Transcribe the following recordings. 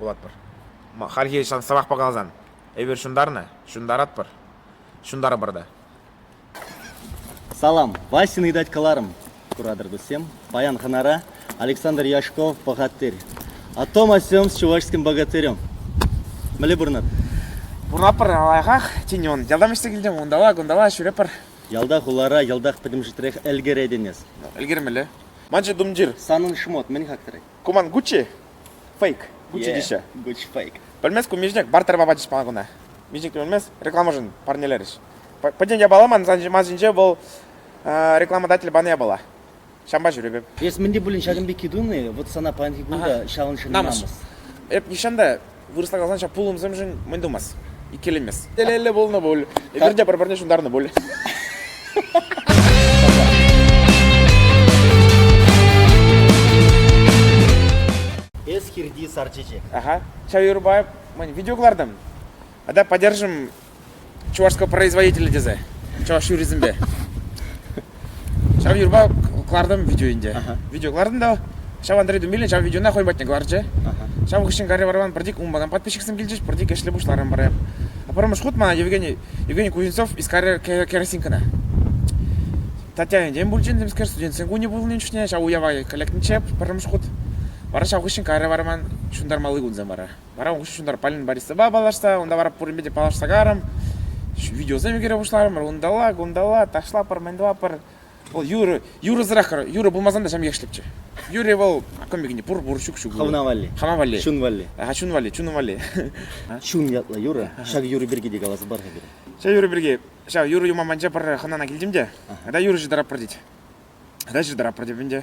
пулатпӑр хальхи сӑмахпа каласан эпир ҫунтарнӑ ҫунтаратпӑр ҫунтарӑпӑр та салам Васьӑн ыйтать кӑларӑм куратӑр туссем паян хӑнара Александр Яшков пӑхаттир о том о сём с чувашским богатырем мӗнле пурӑнат пурӑнатпӑр лайӑхах тен ялтам ӗҫсе килтӗм унталла кунталла ҫӳретпӗр Ялта, хулара йӑлтах пӗтӗмшетрех ӗлкӗретӗн эс. Ӗлкӗрмелле. Ман чи тумтир. Санӑн шмот мӗн хактрӗ? Ку ман Гуччи. Фейк. Гуччи теҫҫӗ. Гуч фейк. Пӗлмест ку Мишник, бар тӗрме пачӗҫ мана куна. Мишникне пӗлмест, рекламӑшӑн парнелерӗҫ. Пӗтӗм япалана ман сан ҫима ҫинче вӑл рекламодатель панӑ япала. Ҫампа ҫӳрепӗп. Эс мӗн те пулин ҫакӑн пекки тунӑ-и? Вӑт сана паянхи кун та ҫавӑн ҫын намӑс. Эп нихҫан та вырӑсла каласан ҫав пулӑмсемшӗн мӗн тумасть, иккӗленмест. Телейлӗ пулнӑ пуль, эпир те пӗр-пӗрне ҫунтарнӑ пуль. Эс хирти сар чечек. Ага. Ҫав юрӑпа мӗн, видео кӑлартӑм. Тата поддержим чувашско производитель тесе чӑваш юррисемпе ҫав юрпа кӑлартӑм видео ӗнтӗ видео кӑлартӑм та ҫав Андрей Думилин ҫав видеона хӑй патне кӑларчӗ ҫав хыҫҫӑн Гарри Варван пӗртик унпакан подписчиксем килчӗҫ пӗртик ӗҫлӗ пуҫларӑм пӗрре пӗрремӗш хут мана Евгений Евгений Кузнецов искаря керосинкӑна Татьяна Ентен пулчӗ темскер студентсен кунӗ пулнин чухне ҫав уява лекнӗччӗ пӗрремӗш хут вара ҫав хыҫҫӑн Гарри Варман ҫунтармалли кунсем вара Вара ун хыҫҫӑн Полина Борисовӑпа паллашса, унта вара пуринпе те паллашса карӑм, видеосем ӳкере пуҫларӑмӑр. Унталла, кунталла, ташлапӑр, мӗн тӑвапӑр. Вӑл юрӑ, юрӑсӑрах юрӑ пулмасан та ҫам ехшлӗччӗ. Юрӗ вӑл кӑмпикине пур, пур, ҫук, ҫук. Хӑвна валли. Хама валли. Чун валли. А, чун валли, чун валли. Чун ятлӑ юрӑ. Ҫак юрӑ пирки те каласа пар-ха пире. Ҫав юрӑ пирки, ҫав юрӑ юманпанча пӗр хӑнана килтӗм те, тата юрӑ ҫыртаратпӑр тет. Тата ҫыртаратпӑр теп ӗнтӗ.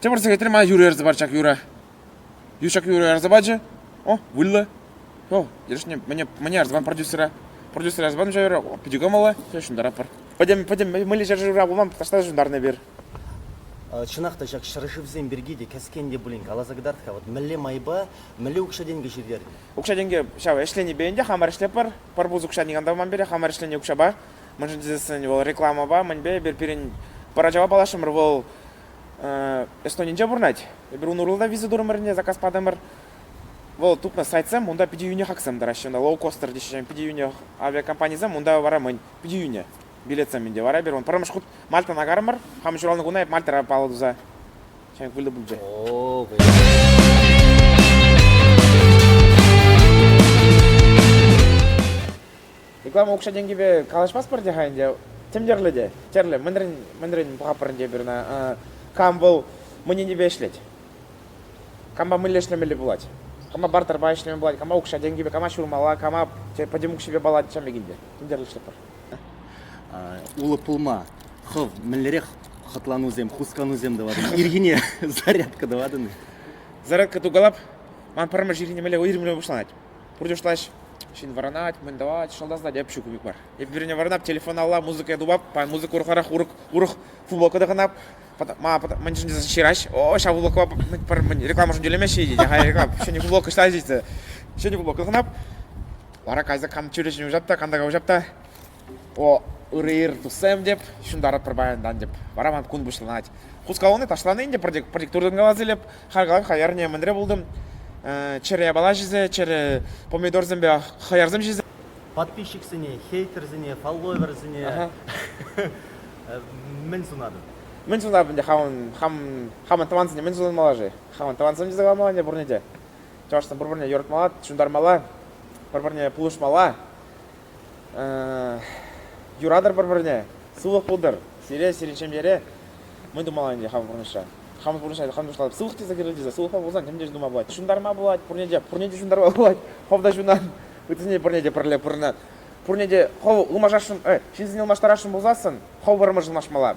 Тепӗр сехетрен мана юрӑ ярса парчӗ ҫак юрӑ. Юр ҫак юрӑ ярса пачӗ. О, выльӑ. О, яшня, мне, мне ярса продюсера. Продюсера ярса патӑм ҫав юрӑ. О, питӗ кӑмӑллӑ. Я ҫунтаратпӑр. Пӗтӗм, пӗтӗм, мӗнле ҫӗршывра пулман, таҫта та ҫунтарнӑ эпир. Чӑнах та ҫак ҫӗршывсем пирки те кӗскен те пулин каласа кӑтарт-ха. Вот мӗнле майпа, мӗнле укҫа-тенкӗ ҫитернӗ? Укҫа-тенкӗ ҫав ӗҫленипе ӗнтӗ хамӑр ӗҫлетпӗр. Пӗр пус укҫа никам та паман пире, хамӑр ӗҫленӗ укҫапа мӗншӗн тесен вӑл рекламӑпа мӗнпе эпир пирӗн поражава паллашрӑмӑр вӑл Эстонинче пурӑнать эпир ун урлӑ виза турӑмӑрне заказ патӑмӑр вӑл тупнӑ сайтсем унта питӗ йӳнӗ хаксем тӑраҫҫӗ ӑна лоукостер теҫҫӗ питӗ йӳнӗ авиакомпанисем унта вара мӗн питӗ йӳнӗ билетсем ӗнтӗ вара эпир вӑл пӗрремӗш хут мальтӑна нагарӑмӑр хам ҫуралнӑ куна эп мальтӑра паллӑ туса ҫенӗк вилнӗ пулчӗ о Реклама укҫа-тенкӗпе калаҫмастпӑр те-ха ӗнтӗ. Тем тӗрлӗ те. Тӗрлӗ. Мӗнрен, мӗнрен пӑхаппӑр ӗнтӗ эпир ӑна? Кам вӑл мӑн енӗпе ӗҫлет? Кампа мӗнле ӗҫлемелли пулать? Кама бартерпа ӗҫлеме пулать? Кама укҫа-тенкӗпе, кама ҫурмалла, кама пӗтӗм укҫипе паллать, ҫамрӑк ӗнтӗ. Тем тӗрлӗшӗтпӗр. Улӑп пулма хӑв мӗнлерех хӑтланусем, хусканусем тӑватӑн? Ирхине зарядка тӑватӑн-и? Зарядка тукалап. Ман пӗрмӗш ирхине мӗнле уйрӑмланма пуҫланать? пурте шутлаҫ ҫын вӑранать, мӗн тӑвать, шӑлтасать. Эп ҫу купик мар. Эп вирне вӑранап, телефон алла, музыка тупап, музыка урӑхларах урӑх, урӑх футболка тӑхӑнап, ма мӗн чӗнчӗ ҫыраҫ, о, ҫав футболкӑпа рекламӑшӑн тӳлемеҫҫӗ теть, ага, реклама, ҫӗнӗ футболка ҫитсе, ҫӗнӗ футболка тӑхӑнап, вара кайса кам чӳречене уҫап та, кам така уҫап та, о ырӑ ир туссем теп ҫунтаратпӑр паянтан теп вара ман кун пуҫланать хускалуне ташлани ӗнтӗ пӗртӗк пӗртӗк туртӑн калас илеп харкалап хаярне мӗнре пултӑм чӗре бала ҫисе чӗре помидорсемпе хӑярсем ҫисе подписчиксене хейтерсене фолловерсене мӗн сунатӑн мӗн сунатӑн ӗнтӗ хамӑн хамӑн тӑвансене мӗн сунмалла-ши хамӑн тӑвансем ҫисе калмалла ӗнтӗ пурне те чӑвашсем пӗр-пӗрне юратмалла ҫунтармалла пӗр-пӗрне пулӑшмалла юратӑр пӗр-пӗрне, сывлӑх пултӑр сире, сирӗн ҫемьере. Мӗн тумалла ӗнтӗ хамӑр пурнӑҫра? Хамӑр пурнӑҫра хамӑр пуҫлатӑп сывлӑх тесе кӗрет тесе сывлӑхпа пулсан ним те тума пулать. Ҫунтарма пулать, пурне те пурне те ҫунтарма пулать. Хӑв та ҫунан, ыттисене пурне те пӗрле пурӑнат. Пурне те хӑв ылмашасшӑн, э, ҫынсене ылмаштарасшӑн пулсассӑн хӑв вӑрӑмӑр ылмашмалла.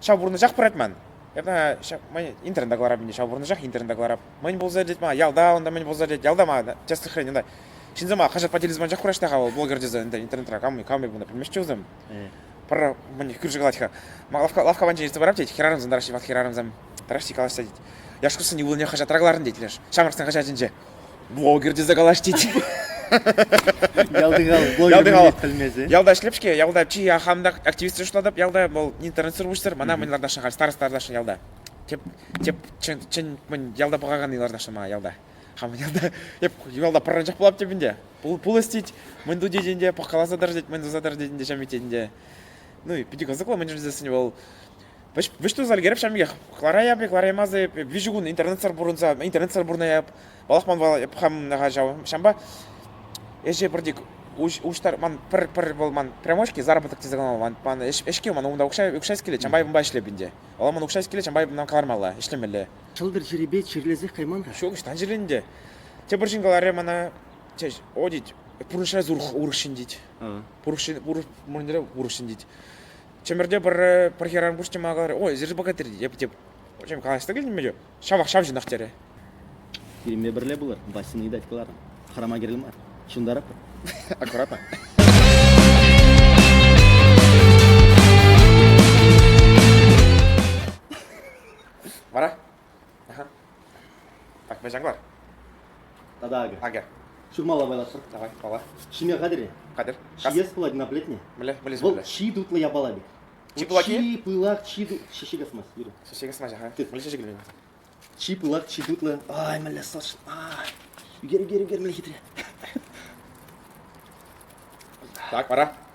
ҫав пурнӑҫах пырать ман эпӗ ман интернета кӑларап ӗнтӗ ҫав пурнӑҫах интернета кӑларап мӗн пулса иртет мана ялта унта мӗн пулса иртет ялта мана тӗслӗхрен унта ҫынсема хаҫат патилисем анчах кураҫҫӗ-ха вӑл блогер тесе ӗнтӗ интернетра кам кам пулнӑ пӗлмеҫҫӗ вӗсем пӗр мӗн кӳрши калать-ха ман лавкка лавкка панчи илсе парап тет хӗрарӑмсем тӑраҫҫӗ ват хӗрарӑмсем тӑраҫҫи калаҫса тет яшкӑрсен ывӑлне хаҫатра кӑлартӑн тет леш ҫамрӑксен хаҫатӗнче блогер тесе калаҫ тет. Ялти хал блогер пӗлмесен. Ялта ӗҫлеп-ҫке, ялта чи хам та активистсем шутлатӑп, ялта вӑл интернетсӑр пуҫтыр, мана мӗн ларташа халь староста ларташа ялта. Теп, теп, чын, чын, мӗн ялта пӑхакан ларташа мана ялта. Хаман ялта, эп ялта пӑранчах пулап тепӗнде. Пул, пул ӗстет, мӗн ту тетӗнде, пӑхкаласа тӑр тет, мӗн туса тӑр тетӗнде, ҫам ететӗнде. Ну, питӗ кӑсӑклӑ мӗн жильсене вӑл Вӗҫту залгереп ҫамйех хлараяп хлараймасӑ виҫӗ кун интернетсӑр пурӑнса интернетсӑр пурӑнаяп палахман валаяп хам ҫав ҫамба ӗҫе пӗрти уҫтар ман пӗр пӗр вӑл ман прямочки заработок тесе калама ман ман ӗҫке ман унта укҫа укҫа килет ҫамбай унпа ӗҫлеп ӗнтӗ ала ман укҫа килет ҫамбай ман кӑлармалла ӗҫлемелле ҫӑлтӑр чирӗпе чирлесех кайман-ха ҫук ӑҫтан чирлӗнде тепӗр ҫын каларӗ мана одить пурнӑҫра урӑх урӑх ҫын тет пурӑх мурньре урӑх ҫын тет Чӗмӗрте пӗр пӗр хӗрарӑм куҫ чӑма каларӗ, ой, эсир богатырь, теп, теп. Чем калаҫса килнӗ ҫав? Ҫавах ҫав ҫынах терӗ. Пирӗнпе пӗрле пулӑр, Васьӑн ыйтать кӑларӑм. Хӑрама кирлӗ мар. Ҫунтаратпӑр. Аккуратно. Вара? Так, вӗҫен кӑлар. Тата акӑ. Акӑ. Ҫурмалла пайлатпӑр. Давай, пала. Ҫиме хатӗр-и? Хатӗр. Ҫиес пулать мына плетне. Мӗле, вылез Вӑл чи тутлӑ япала бит. Чи пылаки? Чи пылак, чи тутлӑ. Шише касмасть, Юра. Шише касмасть, ага. Мӗле шише килмен? Чи пылак, чи тутлӑ. Ай, мӗле сӑш. Ай. Ӳкер, ӳкер, ӳкер, мӗле хитре. Так, пара.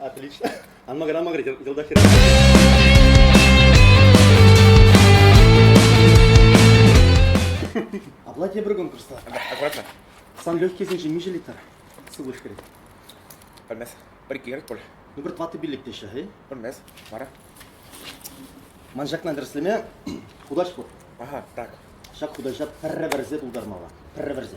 Отлично. Ан макӑр, ан макӑр, йӑлтахира. Апла тепӗр конкурста. Аккуратно. Сан легкисенчен миҫе литр сывлӑш кӗрет? Пӗлмес. Пӗр кирек пуль. Ну пӗр тӑватӑ пиллӗктеҫҫӗ, эй? Пӗлмес. Вара? Ман ҫакна тӗрӗслеме хутаҫ пур. Ага, так. Ҫак хутаҫа пӗрре вӗрсе пултармалла. Пӗрре вӗрсе.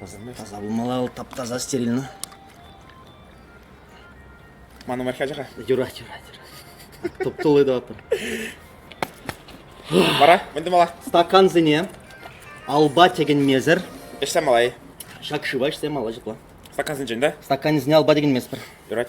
Таса пулмалла, вӑл тап-таса стерильно. Ман номер ача-ха. Юрать, юрать, юрать. Топтулы да отыр. Бара, мӗнді мала? Стакансене алба тегенмесӗр Эшсе малай. ҫак шыва ӗҫсе малай ҫапла. Стакансенчен, да? Стакансене алба тегенмесӗр. Юрать.